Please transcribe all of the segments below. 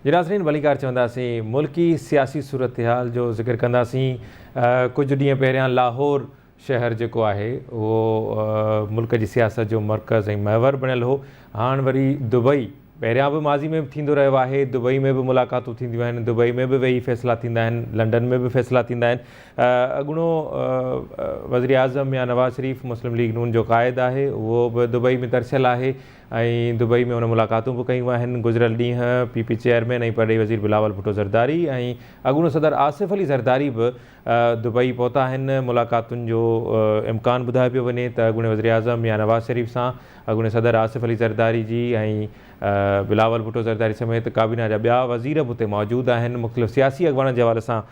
جي ناظرين ڀليڪار چونداسين ملڪي سياسي صورتحال جو ذڪر ڪنداسين ڪجهه ڏينهن پهريان لاهور شهر جيڪو آهي اهو ملڪ جي سياست جو مرڪز ۽ محور بڻيل هو هاڻ وري دبئي پهريان به ماضي ۾ به ٿيندو رهيو آهي، دبئي ۾ به ملاقاتون ٿينديون آهن، دبئي ۾ به ويهي فيصلا ٿيندا آهن، لنڊن ۾ به فيصلا ٿيندا آهن، اڳوڻو وزيراعظم يا نواز شريف مسلم ليگ نون جو قائد آهي، اهو به دبئي ۾ ترسيل آهي ۽ دبئي ۾ هن ملاقاتون به ڪيون آهن، گذريل ڏينهن پي پي چيئرمين ۽ پرڏيهي وزير بلاول ڀٽو زرداري ۽ اڳوڻو صدر آصف علي زرداري به دبئي پهتا آهن، ملاقاتن جو امڪان ٻڌايو پيو وڃي ته اڳوڻي وزيراعظم ميان نواز شريف سان اڳوڻي صدر آصف علي زرداري جي ۽ بلاول ڀٽو زرداري سميت ڪابينا جا ٻيا وزير به اتي موجود آهن، مختلف سياسي اڳواڻن جي حوالي سان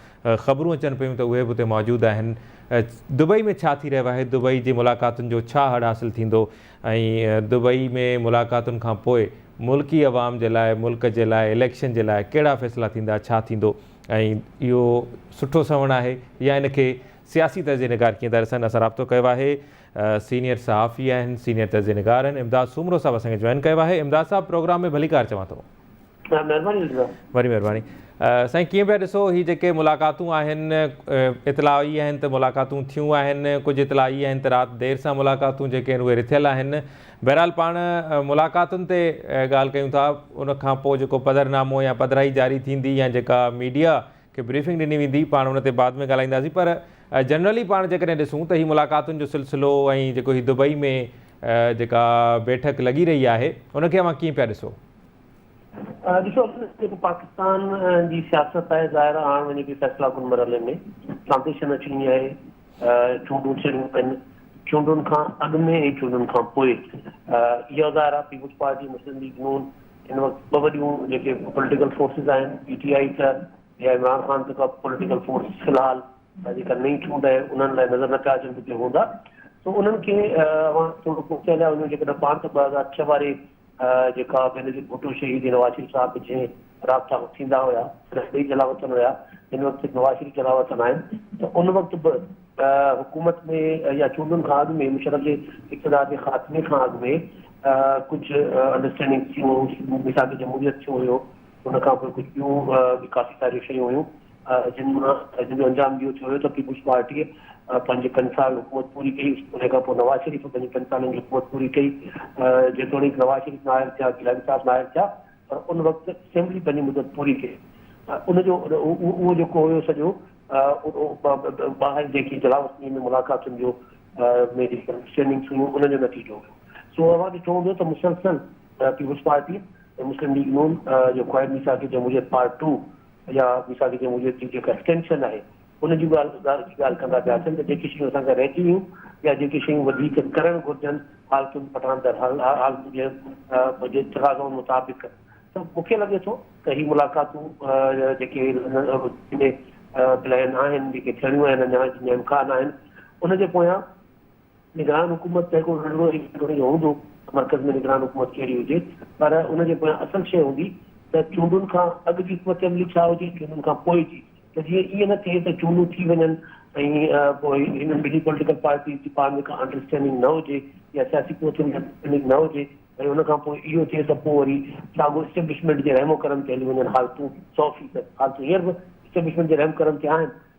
خبرون اچن پيون ته اهي به اتي موجود آهن، دبئي ۾ ڇا ٿي رهيو آهي، دبئي جي ملاقاتن جو ڇا هڙ حاصل ٿيندو ۽ دبئي ۾ ملاقاتن کانپوء ملڪي عوام جي لاء، ملڪ جي لاء، اليڪشن جي لاء ڪهڙا فيصلا ٿيندا، ڇا ٿيندو. ۽ اهو سٺو سنوڻ آهي يا ان کي سياسي تجزئي نگار ڪيئن ٿا ڏسن اسان رابطو ڪيو آهي سينيئر صحافي آهن سينيئر تجزئي نگار آهن امداد سومرو صاحب اسان کي جوائن ڪيو آهي امداد صاحب پروگرام ۾ ڀليڪار چوان ٿو مهرباني وڏي مهرباني سائين ڪيئن پيا ڏسو هي جيڪي ملاقاتون آهن اطلاع اي آهن ته ملاقاتون ٿيون آهن ڪجهه اطلاع اي آهن ته رات دير سان ملاقاتون جيڪي آهن اهي رٿيل آهن بهرحال پاڻ ملاقاتن تي ڳالهه ڪيون ٿا ان کان پوء جيڪو پڌر نامو يا پڌرائي جاري ٿيندي يا جيڪا ميڊيا کي بريفنگ ڏني ويندي پاڻ ان تي بعد ۾ ڳالهائينداسين پر جنرلي پاڻ جيڪڏهن ڏسون ته هي ملاقاتن جو سلسلو ۽ جيڪو هي دبئي ۾ جيڪا بيٺڪ لڳي رهي آهي ان کي اوهان ڪيئن پيا ڏسو؟ ڏسو جيڪو پاڪستان جي سياست آهي ظاهر آڻ وڃي پئي فيصلا ڪن مرحلي ۾ ٽرانزيشن اچي وئي آهي. چونڊون ٿيڻيون پين، چونڊن کان اڳ ۾ ۽ چونڊن کان پوء. اها ظاهر آهي پيپلز پارٽي، مسلم ليگ نون، هن وقت ٻه وڏيون جيڪي پوليٽيڪل فورسز آهن، پي ٽي آئي ته يا عمران خان ته ڪا پوليٽيڪل فورس في الحال جيڪا نئين چونڊ آهي انهن لاء نظر نه پيا اچن ته ڪي هوندا. سو انهن کي اوهان ٿورو پوئتي هليا وڃو جيڪڏهن پاڻ ته ٻه هزار ڇهه واري جيڪا بينظير ڀٽو شهيد نواز شريف صاحب به جنهن رابطا ۾ ٿيندا هيا تڏهن ٻئي جلاوطن هيا هن وقت نواز شريف جلاوطن آهن ته ان وقت به حڪومت ۾ يا چونڊن کان اڳ ۾ مشرف جي اقتدار جي خاتمي کان اڳ ۾ ڪجهه انڊرسٽينڊنگ ٿيون ميثاق جمهوريت ٿيو هيو ان کان پوء ڪجهه ٻيون به ڪافي ساريون شيون هيون جن مان جن جو انجام اهو ٿيو هيو ته پيپلز پارٽيء پنهنجي پنج سال حڪومت پوري ڪئي ان کان پوء نواز شريف پنهنجي پنج سالن جي حڪومت پوري ڪئي جيتوڻيڪ نواز شريف نااهل ٿيا گيلاني صاحب نااهل ٿيا پر ان وقت اسيمبلي پنهنجي مدت پوري ڪئي ان جو اهو جيڪو هيو سڄو ٻاهر جيڪي انتظام وسني ۾ ملاقاتن جو ۾ جيڪي انڊرسٽينڊنگس هيون ان جو نتيجو هيو سو اوهان ڏٺو هوندو ته مسلسل پيپلز پارٽي مسلم ليگ نون جو خواهه ميثاق جمهوريت پارٽ ٽو يا ميثاق جمهوريت جي جيڪا ايڪسٽينشن آهي ان جون ڳالهه اظهار جي ڳالهه ڪندا پيا اچن ته جيڪي شيون اسان کان رهجي ويون يا جيڪي شيون وڌيڪ ڪرڻ گهرجن حالتن پٺان در حال حالتن جي جي تقاضائن مطابق ته مون کي لڳي ٿو ته هي ملاقاتون جيڪي پلان آهن جيڪي ٿيڻيون آهن اڃا جن جا امڪان آهن ان جي پويان نگران حڪومت ته هڪڙو ننڍڙو ئي گهٽ وڏي هوندو ته مرڪز ۾ نگران حڪومت ڪهڙي هجي پر ان جي پويان اصل شيء هوندي ته چونڊن کان اڳ جي حڪمت عملي ڇا هجي چونڊن کان پوء جي ته جيئن ائين نه ٿئي ته چونڊون ٿي وڃن ۽ پوء هنن ٻنهي پوليٽيڪل پارٽيز جي پاڻ ۾ ڪا انڊرسٽينڊنگ نه هجي يا سياسي پهچ ۾ انڊرسٽينڊنگ نه هجي ۽ ان کان پوء اهو ٿئي ته پوء وري ساڳو اسٽيبلشمينٽ جي رحم و ڪرم تي هلي وڃن حالتون سؤ فيصد حالتون هينئر به اسٽيبلشمينٽ جي رحم ڪرم تي آهن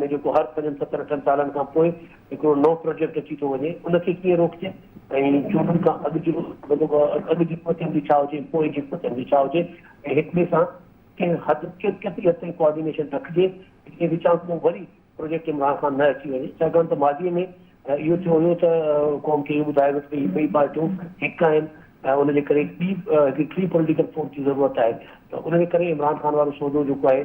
۾ جيڪو هر پنجن ستن اٺن سالن کان پوء هڪڙو نئون پروجيڪٽ اچي ٿو وڃي ان کي ڪيئن روڪجي ۽ چونڊن کان اڳ جو اڳ جي حڪمت عملي ڇا هجي ۽ پوء جي حڪمت عملي ڇا هجي ۽ هڪ ٻئي سان ڪنهن حد ڪيتري حد تائين ڪوآرڊينيشن رکجي جي وچان ڪو وري پروجيڪٽ عمران خان نه اچي وڃي ڇاڪاڻ ته ماضي ۾ اهو ٿيو هيو ته قوم کي اهو ٻڌايو ويو ته هي ٻئي پارٽيون هڪ آهن ۽ ان جي ڪري ٻي هڪڙي ٽي پوليٽيڪل فورس جي ضرورت آهي ته ان جي ڪري عمران خان وارو سودو جيڪو آهي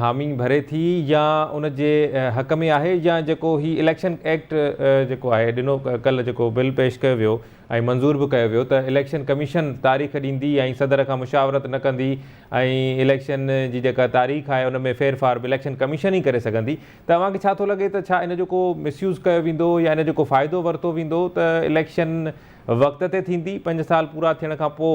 حامي ڀري ٿي يا ان جي حق ۾ آهي يا جيڪو هي اليڪشن ايڪٽ جيڪو آهي ڏنو ڪل جيڪو بل پيش ڪيو ويو ۽ منظور به ڪيو ويو ته اليڪشن ڪميشن تاريخ ڏيندي ۽ صدر کان مشاورت نه ڪندي ۽ اليڪشن جي جيڪا تاريخ آهي ان ۾ ڦيرڦار به اليڪشن ڪميشن ئي ڪري سگهندي ته اوهان کي ڇا ٿو لڳي ته ڇا ان جو ڪو مس يوز ڪيو ويندو يا ان جو ڪو فائدو ورتو ويندو ته اليڪشن وقت تي ٿيندي پنج سال پورا ٿيڻ کان پوء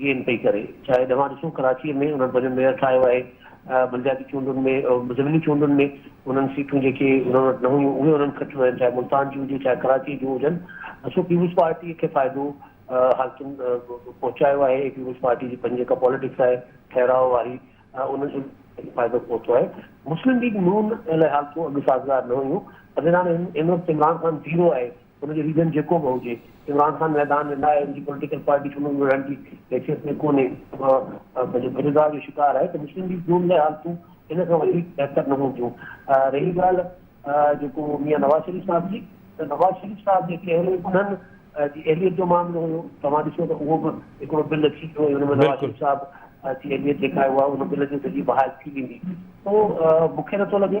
گين پئي ڪري شايد اوهان ڏسو ڪراچي ۾ انهن پنهنجو ميئر ٺاهيو آهي بلدياتي چونڊن ۾ ضمني چونڊن ۾ انهن سيٽون جيڪي انهن وٽ نه هيون اهي انهن کٽيون آهن چاهي ملتان جون هجي چاهي ڪراچي جون هجن سو پيپلز پارٽي کي فائدو حالتن پهچايو آهي پيپلز پارٽي جي پنهنجي جيڪا پاليٽڪس آهي ٺهراء واري انهن جو فائدو پهتو آهي مسلم ليگ نون لاء حالتون اڳ سازگار نه هيون پدران هن وقت عمران خان زيرو آهي ان جو ريزن جيڪو به هجي عمران خان ميدان ۾ نه آهي ان جي پوليٽيڪل پارٽي چونڊن ۾ وڙهڻ جي حيثيت ۾ ڪونهي پنهنجي گنهگار جو شڪار آهي ته مسلم ليگ نون لاء حالتون ان کان وڌيڪ بهتر نه هونديون رهي ڳالهه جيڪو ميان نواز شريف صاحب جي ته نواز شريف صاحب جي ڪهڙي انهن جي اهليت جو معاملو هيو توهان ڏسو ته اهو به هڪڙو بل اچي ويو ۽ ان ۾ نواز شريف صاحب جي اهليت جيڪا آهي اها ان بل جي ذريعي بحال ٿي ويندي سو مون کي نٿو لڳي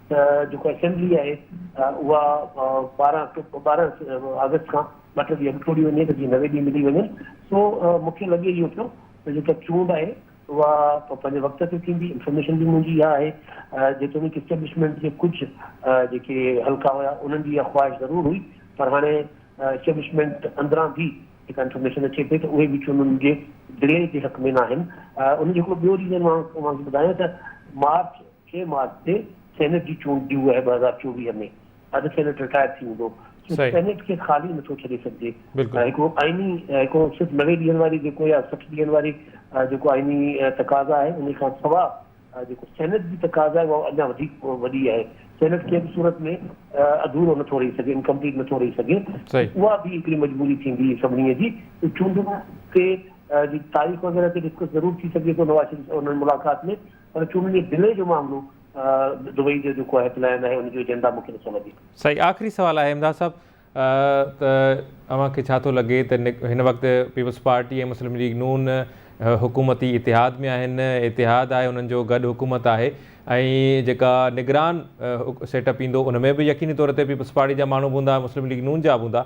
ته جيڪو اسيمبلي آهي اها ٻارهن ٻارهن آگسٽ کان ٻه ٽي ڏينهن اڳ ٽوڙي وڃي ته جيئن نوي ڏينهن ملي وڃن سو مونکي لڳي اهو پيو ته جيڪا چونڊ آهي اها پنهنجي وقت تي ٿيندي انفارميشن به منهنجي اها آهي جيتوڻيڪ اسٽيبلشمينٽ جي ڪجهه جيڪي حلقا هيا انهن جي اها خواهش ضرور هئي پر هاڻي اسٽيبلشمينٽ اندران به جيڪا انفارميشن اچي پئي ته اهي به چونڊن جي ڊلي جي حق ۾ ناهن ان جو هڪڙو ٻيو ريزن مان اوهان کي ٻڌايان ته مارچ چئين مارچ تي سينيٽ جي چونڊ ڊيو آهي ٻه هزار چوويهه ۾ اڌ سينيٽ رٽائر ٿي ويندو سو سينيٽ کي خالي نٿو ڇڏي سگهجي هڪڙو آئيني هڪڙو صرف نوي ڏينهن واري جيڪو يا سٺ ڏينهن واري جيڪو آئيني تقاضا آهي ان کان سوا جيڪو سينيٽ جي تقاضا آهي اها اڃا وڌيڪ وڏي آهي سينيٽ ڪنهن به صورت ۾ اڌورو نٿو رهي سگهي انڪمپليٽ نٿو رهي سگهي اها به هڪڙي مجبوري ٿيندي سڀني جي چونڊن تي تاريخ وغيره تي ڊسڪس ضرور ٿي سگهي ٿو نواز شريف سان انهن ملاقات ۾ پر چونڊن جي ڊلي جو معاملو دبئي جو جيڪو آهي پلان آهي ان جو ايجنڊا مون کي نٿو لڳي. سائين آخري سوال آهي امداد صاحب ته اوهان کي ڇا ٿو لڳي ته هن وقت پيپلز پارٽي ۽ مسلم ليگ نون حڪومتي اتحاد ۾ آهن اتحاد آهي انهن جو گڏ حڪومت آهي ۽ جيڪا نگران سيٽ اپ ايندو ان ۾ به يقيني طور تي پيپلز پارٽي جا ماڻهو به هوندا مسلم ليگ نون جا به هوندا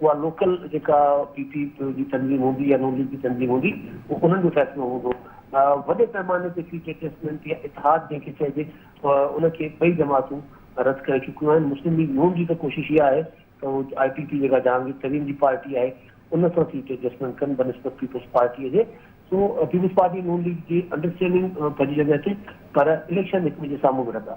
اها لوڪل جيڪا پي پي جي تنظيم هوندي يا نون ليگ جي تنظيم هوندي اهو انهن جو فيصلو هوندو. وڏي پئماني تي سيٽ ايڊجسٽمينٽ يا اتحاد جنهن کي چئجي ان کي ٻئي جماعتون رد ڪري چڪيون آهن. مسلم ليگ نون جي ته ڪوشش اها آهي ته هو آء پي پي جيڪا جهانگير ترين جي پارٽي آهي ان سان سيٽ ايڊجسٽمينٽ ڪن بنسبت پيپلز پارٽي جي سو پيپلز پارٽي نون ليگ جي انڊرسٽينڊنگ پنهنجي جڳهه تي پر اليڪشن هڪ ٻئي جي سامهون وڙهندا.